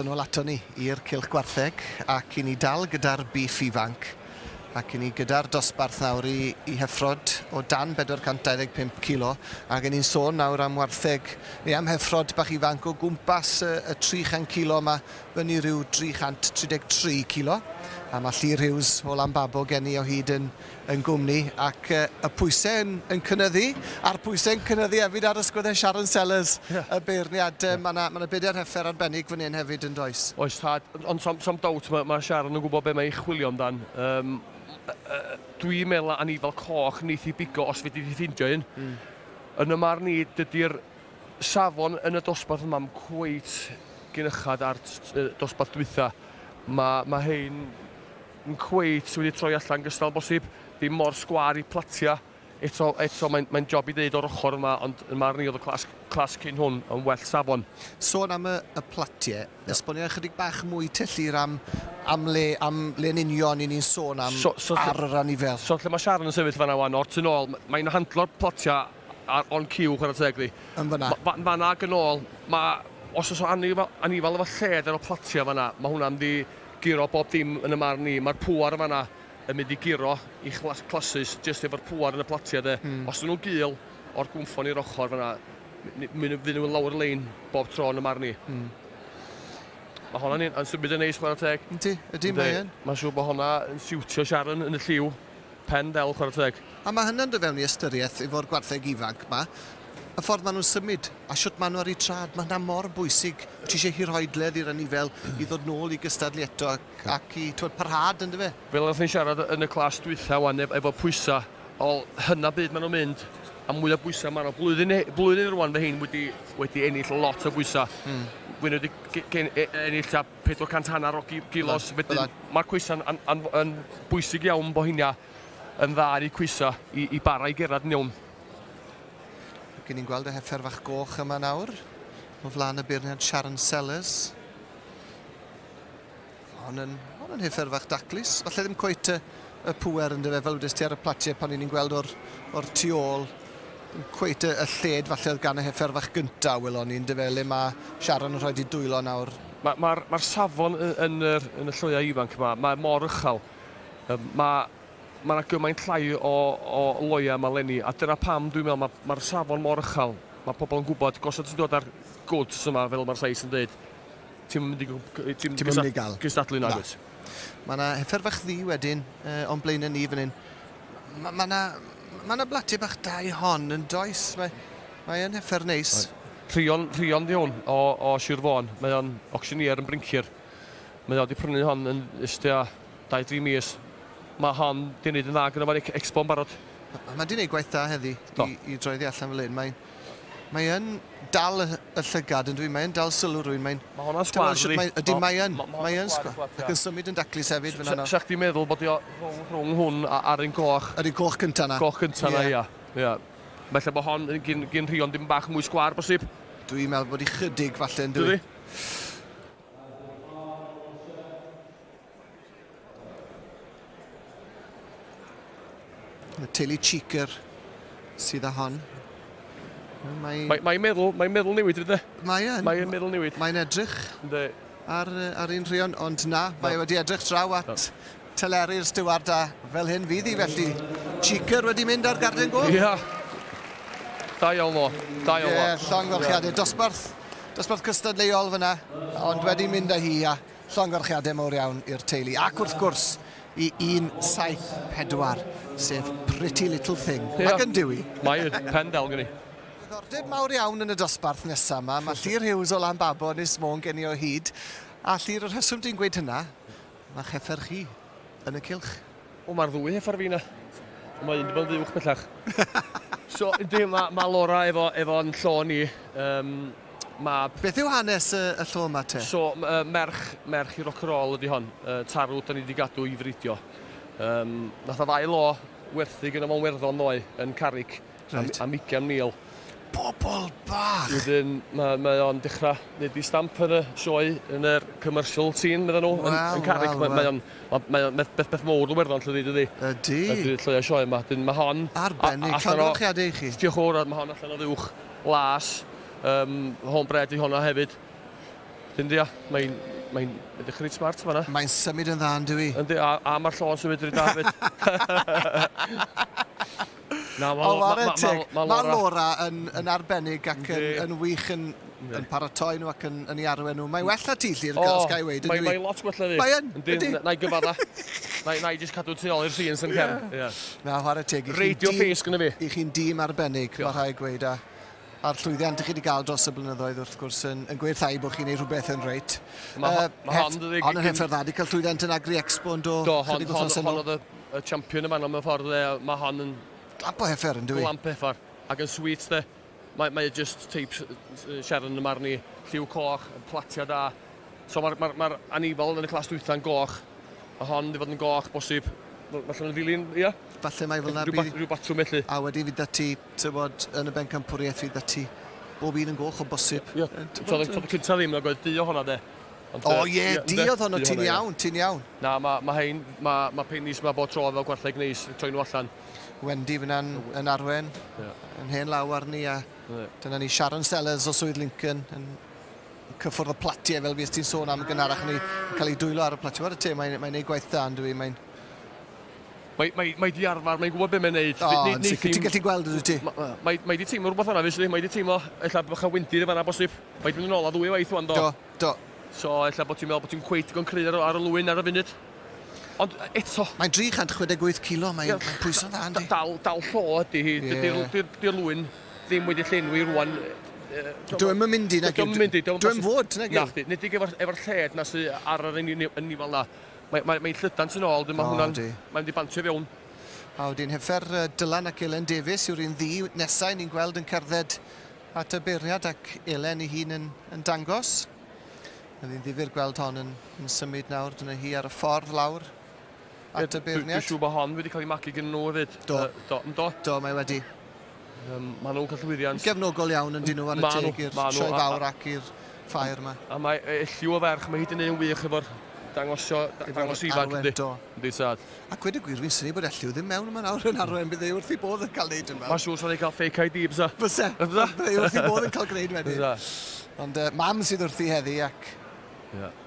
Yn ôl ato ni i'r cylch gwartheg ac i ni dal gyda'r bîff ifanc ac i ni gyda'r dosbarth nawr i i heffrod o dan 425 kilo ac yn ni'n sôn nawr am wartheg neu am heffrod bach ifanc o gwmpas y, y 300 kilo yma fyny rhyw 333 kilo a mae Llyr Hughes o Lanbabo gen i o hyd yn yn gwmni ac y pwysau yn, yn cynnyddu, a'r pwysau yn cynnyddu hefyd ar ysgwyddau Sharon Sellers, yeah. y beirniad. Yeah. Mae yna ma na bedair heffer arbennig fan hyn hefyd yn does. Oes tad, ond sam, sam dawt mae, mae Sharon yn gwybod beth mae ei chwilio amdan. Um, Dwi'n meddwl a ni fel coch neith i bigo os fe di ffeindio un. Mm. Yn y marn i, dydy'r safon yn y dosbarth yma yn cweit gynychad ar dosbarth dwytha. Mae, mae hein yn cweit wedi troi allan gystal bosib, ddim mor sgwâr i platia, eto eto mae'n mae'n job i ddeud o'r ochr yma ond yn marn i oedd y clas clas cyn hwn yn well safon. Sôn am y y platie, esbonia ychydig bach mwy te Llyr am am le am le yn union i ni'n sôn am so, so, ar yr anifail. So lle mae Sharon yn sefyll fanna wan o'r tu nôl mae'n handlo'r platia Ar on cue, chwarae teg ddi. Yn fanna. Ma- ma- fanna ac yn ôl, ma' os oes o anifal, anifal efo lled ar y platia fanna, ma' hwnna'n mynd i guro bob dim yn y marn i. Ma'r pŵer yn fanna yn mynd i guro i chlas- clasys jyst efo'r pŵer yn y platia de. Os 'dyn nhw'n gul o'r gwmffon i'r ochr fanna, mi- mi- mi- fydd nhw lawr y lein bob tro yn y marn i. Ma' honna'n un yn symud yn neis chwarae teg. Yndi, yndi, mae yn. Mae'n siŵr bod honna yn siwtio Sharon yn y lliw. Pen del chwartheg. A mae hynna'n dod fewn i ystyriaeth efo'r gwartheg ifanc 'ma, y ffordd maen nhw'n symud a shwt maen nhw ar eu trad, mae hynna mor bwysig. Ti eisiau hirhoedledd i'r anifail i ddod nôl i gystadlu eto ac i, timod, parhad, yn dyfe? Fel oeddech chi'n siarad yn y clas dwytha 'wan ef- efo pwysa, wel, hynna byd maen nhw'n mynd a mwy o bwysa maen nhw. Blwyddyn he- blwyddyn rwan fy rhein wedi wedi ennill lot o bwysa. Fy rhein wedi ge- gen- e- ennill tua 400 hanner o gilos wedyn mae coesau'n yn, yn, yn bwysig iawn bod hynna yn dda ar eu coesau i, i bara i gerad yn iawn. Gyn ni'n gweld y heffer fach goch yma nawr o flaen y beirniad Sharon Sellers. Hon yn, hon yn heffer fach daclus, falle ddim cweit y, y pwer yn dyfe fel wedi'ch ti ar y platiau pan ni'n gweld o'r, or tu ôl. Dim cweit y y lled falle oedd gan y heffer fach gynta', welon ni, yndyfe, le ma' Sharon yn rhaid 'i dwylo nawr. Ma' ma'r ma'r safon y yn yr yn y lloea' ifanc 'ma, mae mor uchel. Yym ma' ma' 'na gymaint llai o o loea' 'ma 'leni, a dyna pam dwi'n me'wl ma' ma'r safon mor uchel. Ma' pobol yn gwbod, gosod ti'n dod â'r goods yma fel ma'r llais yn deud, ti'm yn mynd i gwb- cy- yy ti'm Ti'm yn mynd i ga'l. cystadlu nagwyt? Na. Ma' 'na heffer fach ddu wedyn yy o'n blaene' ni fan 'yn. Ma- ma' 'na ma' 'na blaty bach da i hon yn does? Mae mae yn hyffer neis. Rhion, Rhion 'di hwn o o Sir Fôn. Mae o'n auctioneer yn blincir. Mae o 'di prynu hon yn ys tua dau dri mis. Ma' hon 'di neud yn dda gynno fo ar Ex- Expo'n barod. Ma' ma' 'di neud gwaith da heddi i i droi oddi allan fel 'yn. Mae Mae yn dal y, y llygad yn dwi, mae yn dal sylw rwy'n, mae'n... Mae hwnna'n sgwar, ydy? Mae, ydy, mae yn, mae yn sgwar. Ac yn symud yn daclus hefyd fyna nawr. Sa chdi'n meddwl bod i o rhwng, rhwng hwn a, a'r un goch? Yr un goch cynta na. Goch cynta na, ia. Ia. Felly bod hon yn gyn, gyn rhion dim bach mwy sgwar, bosib? Dwi'n meddwl bod i chydig falle yn dwi. Dydy? Y teulu Cheeker sydd â hon. Mae'n mae, mae meddwl, mae meddwl newid rydw. Mae yn. Mae yn meddwl newid. Mae'n edrych. Ynddo. Ar, ar un rhion, ond na, mae no. wedi edrych draw at no. teleru'r steward a fel hyn fydd hi felly. Cheeker wedi mynd ar garden gof. Ia. Yeah. Da iawn o, da iawn o. Ie, llong ddochiadau, dosbarth, dosbarth cystadleuol fyna, ond wedi mynd â hi a Llongyfarchiadau mawr iawn i'r teulu ac wrth gwrs i 174, sef Pretty Little Thing. Ie. Mae gen Dewi. Mae yn, pen del gen i. Diddordeb mawr iawn yn y dosbarth nesa 'ma. Mae Llyr Hughes o Lanbabo, Ynys Môn gen i o hyd. A Llyr, y rheswm dwi'n gweud hynna, mae cheffer chi. yn y cylch? O, mae'r ddwy hef ar fi na. Mae un di bod yn uwch bellach. so, ydy, mae ma Laura efo, efo'n llo ni. Um, ma... Beth yw hanes y, y llo yma te? So, uh, merch, merch i rock and roll ydy hon. Uh, tarw, da ni wedi gadw i fridio. Um, nath o ddau lo werthu gyda fo'n werddon ddoe yn Carrick. Reit. Am, am 20,000. Pobol bach! Wedyn mae, mae o'n dechrau neud i stamp yn y sioe yn yr commercial scene, meddyn nhw, yn, yn Carrick. Well, mae, o'n, mae, mae o'n beth, beth, beth mowr Iwerddon, llydi, dydi? Ydy. Ydy, llwyau sioe yma. Dyn, mae hon... Arbennig, llongyfarchiadau i chi. Diolch o'r, mae hon allan o ddiwch las. Um, hon bred i honna hefyd. Dyn, dia, mae'n mae'n edrych reit smart fanna. Mae'n symud yn dda, yn dwi. Yndi, a, a mae'r llon symud reit dda hefyd. Na, ma, ma, ma, ma, ma, ma Laura yn, yn arbennig ac yn, yn wych yn, yn paratoi nhw ac yn, yn ei arwen nhw. Mae well na ti, Llyr, oh, os gael ei weid. Mae, mae lot gwella fi. Mae yn, ydy. Na i gyfadda. na, na i jyst cadw tu ôl i'r sîn sy'n cefn. Yeah. Na, chwarae teg. Radio ffeus gyda fi. I chi'n dîm arbennig, mae rhaid gweud. A, a'r llwyddiant dych chi 'di ga'l dros y blynyddoedd wrth gwrs yn yn gweithhau bo' chi'n neud rhwbeth yn reit. Ma' ho- yy ma' hon dydi? Hon yn hethau dda 'di ca'l llwyddiant yn Agri Expo yndo? Do hon hon hon o'dd y y champion yn fanno mewn ffordd yy ma' hon yn Glamp o heffer yndyw 'i? Glamp heffer ac yn sweet de. Mae mae e jyst teip Sharon yn y marn i. Lliw coch, platia da. So ma'r ma'r ma'r anifail yn y clas dwytha'n goch. Ma' hon mynd i fod yn goch bosib. Wel falle ma'n ddilyn ia? Falle mai fel 'na bydd... Rhyw bat- ryw batwm felly. A wedyn fydd 'da ti Tywod, yn y bencampwriaeth fydd ati bob un yn goch o bosib. Ie, tywod, y tropy cyntaf ddim, nag oedd di o honna de. Ond, o ie, yeah, di oedd hwnnw, ti'n iawn, ti'n iawn. Na, mae ma hein, mae ma peinis yma bod tro fel gwartheg neis, troi nhw allan. Wendy fyna'n yn arwen, yeah. yn hen law arni, a yeah. dyna ni Sharon Sellers o Swydd Lincoln, yn cyffwrdd y platiau fel fes ti'n sôn am gynharach ni, yn cael ei dwylo ar y platiau. Wel, y te, mae'n mae ei gwaith dda, yn dwi, mae'n Mae, mae, mae di arfer, mae'n gwybod beth mae'n neud. O, yn sicr, ti'n gallu gweld ydy ti? Mae, mae di teimlo rhywbeth yna, felly, mae di teimlo, ella bych a wyndir y fanna bosib. Mae di mynd yn ôl a ddwy waith o'n do. Do, do. So, ella bod ti'n meddwl bod ti'n cweit digon cry ar, ar y lwyn ar y funud. Ond eto... Mae'n 368 kilo, mae'n yeah, pwyso dda, yndi? Dal, dal llo ydy hi, yeah. dy'r lwyn ddim wedi llenwi rwan. Dwi'n mynd i, nag Dwi'n mynd i. Dwi'n fod, nag Na, nid i efo'r lled na sy'n ar yr ynifol na. Mae, mae, mae llydan tu'n ôl, dyn mae hwnna'n... Mae'n mynd i bantio i fewn. A wedi'n hyfer, Dylan ac Elen Davies yw'r un ddi nesau ni'n gweld yn cerdded at y beiriad ac Elen i hun yn, yn dangos. Mae'n ddyn ddifur gweld hon yn, yn symud nawr, dyna hi ar y ffordd lawr at y beirniad. Dwi'n siŵr bod hon wedi cael ei magu gen nhw hefyd. Do. Uh, do, do. Do, mae wedi. Um, maen nhw'n cael llwyddiant... Gefnogol iawn yn dyn nhw ar y teg i'r sioe fawr ac i'r ffair yma. A mae elliw o ferch, mae hyd yn un wych efo'r dangosio, dangos ifanc yndi. Yndi sad. A gwed y gwir, fi'n syni bod elliw ddim mewn yma nawr yn arwen, bydd ei wrth i bodd yn cael neud yn fawr. Mae'n siŵr sa'n ei cael fake ID, bysa. Bysa, bydd ei wrth i bodd yn cael gwneud wedi. Bysa. Ond uh, mam sydd wrthi heddi ac... Yeah.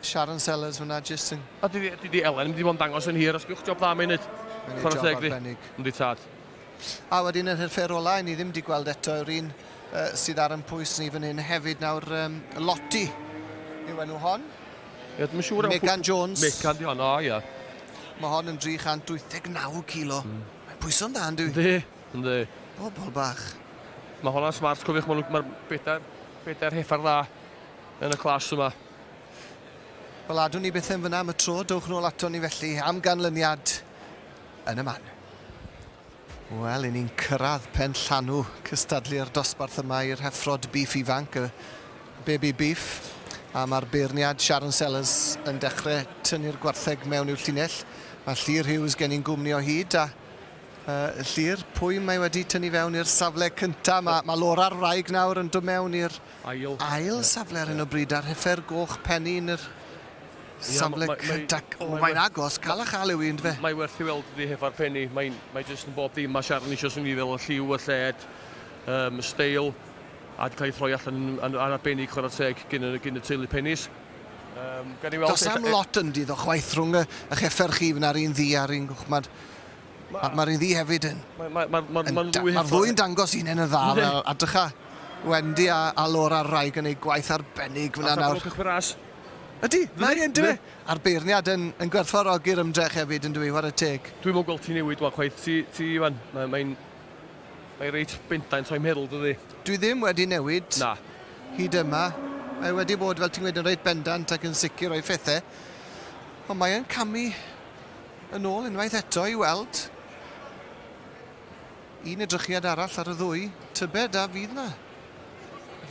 Sharon Sellers fyna jyst yn... A dydi, dydi Elen, mynd i fod yn dangos yn hir, os gwch job dda mae'n neud. Mae'n neud job arbennig. Yndi tad. A wedyn yr hyrfer ola i ni ddim wedi gweld eto yw'r un sydd ar yn pwys ni fan hyn hefyd nawr um, Lotti yw enw hon. Ie, dwi'n siŵr... Megan Jones. Megan di hon, o ie. Mae hon yn 389 kilo. Mm. Mae'n pwyso'n dda, ynddi? Ynddi, ynddi. Bobl bach. Mae hwnna'n smart, cofiwch, mae'r ma bedair, bedair heffer dda yn y clas yma. Wel, adwn ni beth yn fyna am y tro, dowch nôl ato ni felly am ganlyniad yn y man. Wel, i ni'n cyrraedd pen llanw cystadlu'r dosbarth yma i'r heffrod beef ifanc, y baby beef, a mae'r beirniad Sharon Sellers yn dechrau tynnu'r gwartheg mewn i'w llinell. Mae Llyr Hughes gen i'n gwmni o hyd, a uh, Llyr, pwy mae wedi tynnu fewn i'r safle cyntaf? Mae, mae Laura'r wraig nawr yn dod mewn i'r ail safle ar hyn o bryd ar hyfer goch Penny yn yr safle cydag. O, mae'n agos, cael a chael yw i, ynddo fe? Mae werth i weld ydi hyfer Penny, mae, mae jyst yn bob dim. Mae Sharon eisiau swnio fel y lliw, y lled, um, y steil, a wedi cael ei throi allan yn arbennig chwarae teg gyn y, gyn y teulu Penny's. Um, Does am lot yn dyddo chwaith rhwng y, y cheffer chi, fyna'r un ddi a'r un gwchmad. Mae'r ma iddi hefyd yn... Mae'r ma, ma, ma, ma ddwy Mae'r ddwy'n dangos un yn y dda fel a dycha Wendy a, a Laura Raig yn ei gwaith arbennig fyna nawr. Allan cychwyn ras. Ydy, mae yn dywe. A'r beirniad yn, yn gwerthfarogi'r ymdrech hefyd yn dwi, war y teg. Dwi'n mwyn gweld ti newid wan chwaith, ti, ti Iwan, mae'n mae mae reit bendant o'i meddwl dydy. Dwi ddim wedi newid. Na. Hyd yma. Mae wedi bod, fel ti'n gweud, yn reit bendant ac yn sicr o'i phethau. Ond mae'n camu Yn ôl unwaith eto i weld un edrychiad arall ar y ddwy. Tybed a fydd 'na...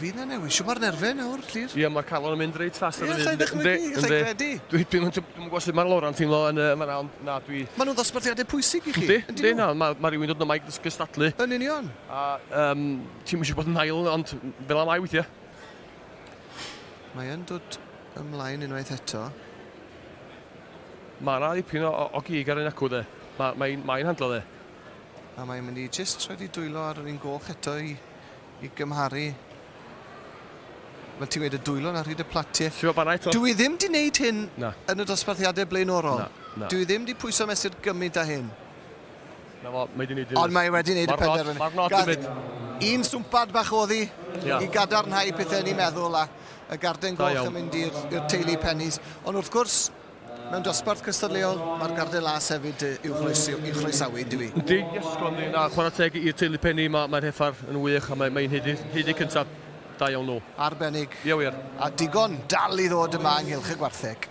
fydd 'na newid? Siwmper nerfe nawr, Llŷr? Ie, mae'r calon yn mynd reit fast ar y funud. Ie, allai ddychmygu, allai credu. Dwi ddim yn gwybod sut mae Laura'n teimlo yn fan 'na, ond na, dwi... Maen nhw'n ddosbarthiadau pwysig i chi. Yndi, yndi, na, mae ma rhywun dod yma i gystadlu. Yn union. A um, ti'n mynd i bod yn ail, ond fel am ai weithiau. Mae'n dod ymlaen unwaith eto. Mae yna ddipyn o, o, o gig ar ein acw dde. Mae, mae, mae hi'n handlo dde. A mae'n mynd i jyst rhaid i dwylo ar yr un goch eto i, i gymharu Wel, ti'n gweud y dwylo na rhyd y platiau. Ti'n gwybod, eto... Dwi ddim di wneud hyn na. yn y dosbarthiadau blaenorol. Na, na. Dwi ddim di pwyso mesur gymaint â hyn. Na fo, mae di wneud hyn. Ond mae wedi wneud y penderfynu. Mae'r nod i mynd. Un swmpad bach oddi yeah. i gadarnhau pethau ni'n meddwl a y garden goch yn mynd i'r teulu Pennies. Ond wrth gwrs, mewn dosbarth cystadleuol, mae'r garden las hefyd i'w chroesawu, dwi. Ydy, yes, Connie, na, chwarae teg i'r teulu Penny, mae'r mae heffar yn wych a mae'n mae heidi cyntaf. Da iawn nhw. Arbennig. Ie wir. A digon dal i ddod yma ynghylch y gwartheg.